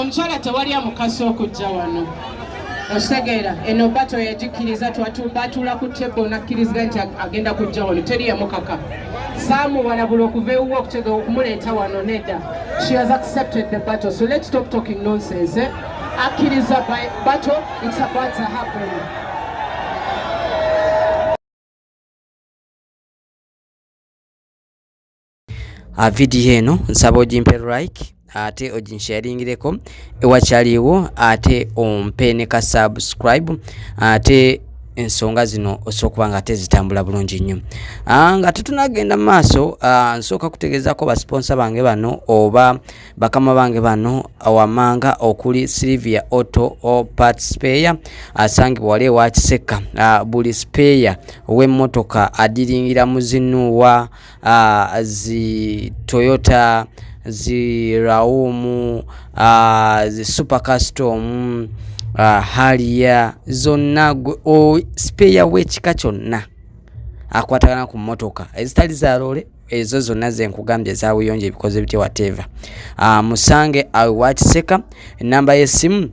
Omukyala tewali amukasa okujja wano okitegeera eno bato yagikkiriza batuula ku tebo nakkirizga nti agenda kujja wano teri yamukaka saamuwalabula okuva ewuwe okutegeka okumuleeta wano nedda she has accepted the battle so let's stop talking nonsense eh? akkiriza bato it's about to happen ah, vidiyo eno nsaba ogimpe like ate oginsharingireko ewakyaliwo ate ompe ne ka subscribe ate ensonga zino osobola okuba nga ate zitambula bulungi nnyo ah, nga tetunagenda mu maaso ah, nsooka kutegeezako basiponsa bange bano oba bakama bange bano wamanga okuli silivia auto part speya asangibwa wali ewa kisekka ah, buli speya ow'emmotoka adiringira muzinuwa uh, zi toyota zi rawumu uh, ah, zi super custom uh, ah, haliya zonna speya wekika kyonna akwatagana ku motoka ezitali za loole ezo zonna zenkugambye ezabuyonjo ebikoze bitya wateva uh, musange awewakiseka enamba yesimu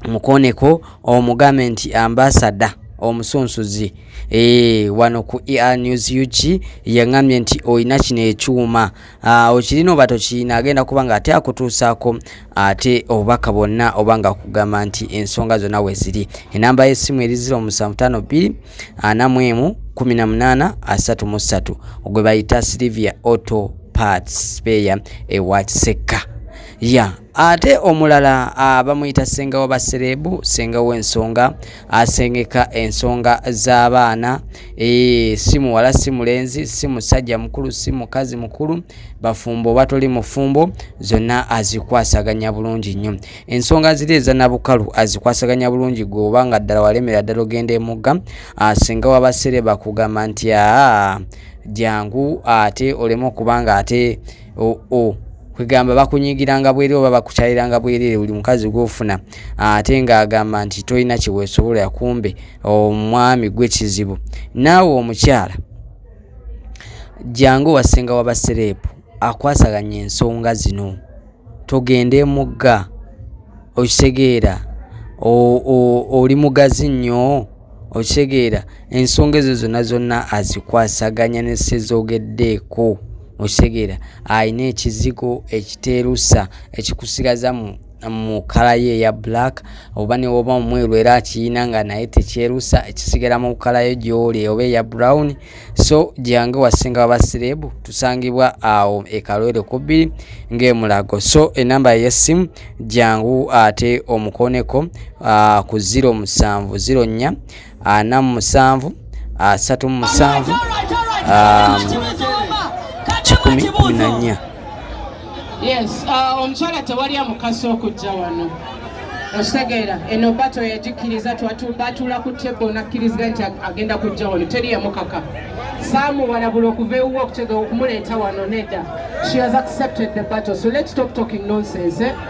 mukoneko omugambe nti ambasada omusunsuzi eh, wano ku er news ug yaŋambye nti olina kino ekyuma ah, okirina oba tokirina agenda kuba nga ate akutuusaako ate obubaka bwonna oba nga kugamba nti ensonga zonna weziri enamba y'essimu eri 0752 41 18 33 ogwe bayita silivia auto parts peya ewa kisekka ya yeah. Ate omulala ah, bamuyita senga wa baserebu senga w'ensonga asengeka ensonga z'abaana eh, si muwala si mulenzi si musajja mukulu si mukazi mukulu bafumbo oba toli mufumbo zonna azikwasaganya bulungi nnyo ensonga ziri eza nabukalu azikwasaganya bulungi gwe oba nga ddala walemera ddala ogenda emugga ah, senga wa basereba kugamba nti aa ah, jangu ate oleme okuba nga ate o, o. kwegamba bakunyigiranga bwere oba bakukyaliranga bwerere buli mukazi gwofuna ah, ate ngaagamba nti tolina kyewesobola yakumbe omwami gwe kizibu naawe omukyala jangu wasenga wabasereepu akwasaganya ensonga zino togende mugga okitegeera oli mugazi nnyo okitegeera ensonga ezo zonna zonna azikwasaganya ne sezogeddeeko okitegeera alina ekizigo ekiteerusa ekikusigaza mu mu kala ye eya black oba newoba omweru era akiyina nga naye tekyerusa ekisigala mu kala yo gyoli oba eya brown so gyange wasinga wabasirebu tusangibwa awo ekalwere kubbiri ngaemulago so enamba yesimu gyangu ate omukoneko uh, ku 07 04 ana mu musanvu asatu mu musanvu um, kikumi kumi na nnya yes uh, omukyala tewali amukasa okujja wano okitegeera eno bato yagikkiriza batuula ku tebo nakkirizga nti agenda kujja wano teri yamukaka saamuwalabula okuva ewuwe okutegeera okumuleeta wano nedda she has accepted the battle so let's stop talking nonsense eh?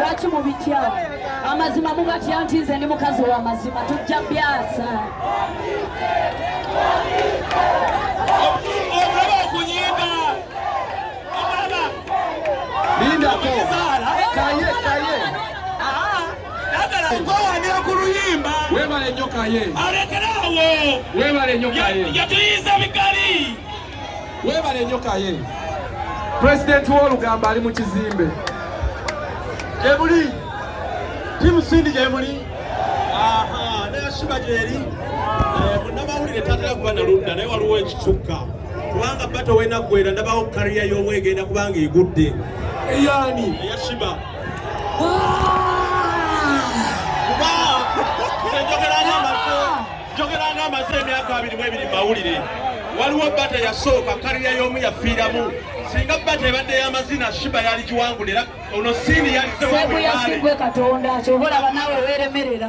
lwaki mubitya amazima mugatya nti nze ndi mukazi wa mazima tujja byasa lindako kaye kaye gwewanira ku luyimba webale nyo kaye alekerawo webale nyo kaye yatuyiza bikali Webale nyo kaye. President w'olugamba ali mu kizimbe. Gyebuli. Timu Sindi gyebuli. Aha, naye ashiba gyeri. Eh, munnamawulire tatera kuba na ludda naye waliwo ekisukka kubanga bato wenaggwera ndabawo kariya y'omu egenda kubanga egudde eyani eyashiba njogera nga amaze emyaka abiri mu ebiri mawulire waliwo bata yasooka kaliya y'omu yafiiramu singa bata ebadde y'amazina shiba yaligiwangula era ono siini yalisebuyasigwe katonda kyova olaba naawe weeremerera